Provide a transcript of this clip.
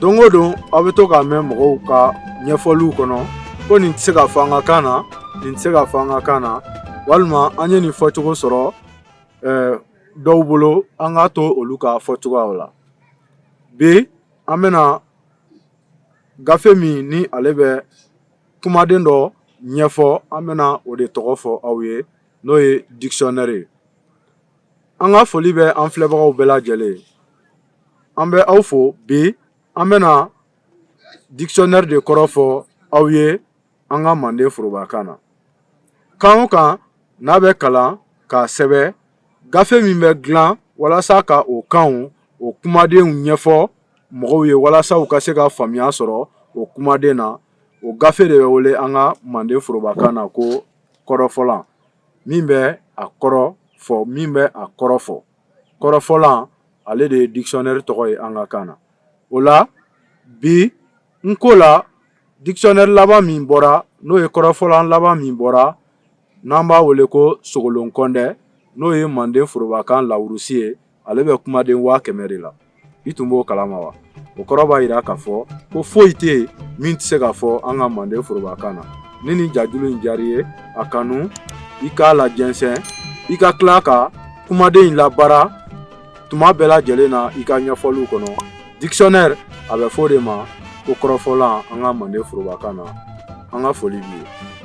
don o don aw bɛ to k'a mɛn mɔgɔw ka ɲɛfɔliw kɔnɔ ko nin tɛ se ka fɔ an ka kan na nin tɛ se ka fɔ an ka kan na walima an ye nin fɔcogo sɔrɔ eh, dɔw bolo an k'a to olu ka fɔcogoyaw la bi an bɛna gafe min ni ale bɛ kumaden dɔ ɲɛfɔ an bɛna o de tɔgɔ fɔ aw ye n'o ye dictionnaire ye an ka foli bɛ an filɛbagaw bɛɛ lajɛlen ye an bɛ aw fo bi an bɛna dictionnaire de kɔrɔ fɔ aw ye an ka manden forobakan na kan o kan n'a bɛ kalan k'a sɛbɛn gafe min bɛ dilan walasa ka o kan o kumadenw ɲɛfɔ mɔgɔw ye walasa u ka se ka faamuya sɔrɔ o kumaden na o gafe de bɛ wele an ka manden forobakan na ko kɔrɔfɔlan min bɛ a kɔrɔ fɔ min bɛ a kɔrɔ fɔ kɔrɔfɔlan ale de ye dictionnaire tɔgɔ ye an ka kan na o la bi nko la dictionnaire laban min bɔra n'o ye kɔrɔfɔlan laban min bɔra n'an b'a wele ko sogolon kɔndɛ n'o ye manden forobakan larousse ye ale bɛ kumaden waa kɛmɛ de la i tun b'o kalama wa o kɔrɔ b'a jira k'a fɔ ko foyi tɛ yen min tɛ se ka fɔ an ka manden forobakan na ni nin jajulu in diyara i ye a kanu i k'a lajɛnsɛn i ka tila ka kumaden in labaara tuma bɛɛ lajɛlen na i ka ɲɛfɔliw kɔnɔ dictionnaire a bɛ fɔ o de ma ko kɔrɔfɔlan an ka manden forobakan na an ka foli b'i ye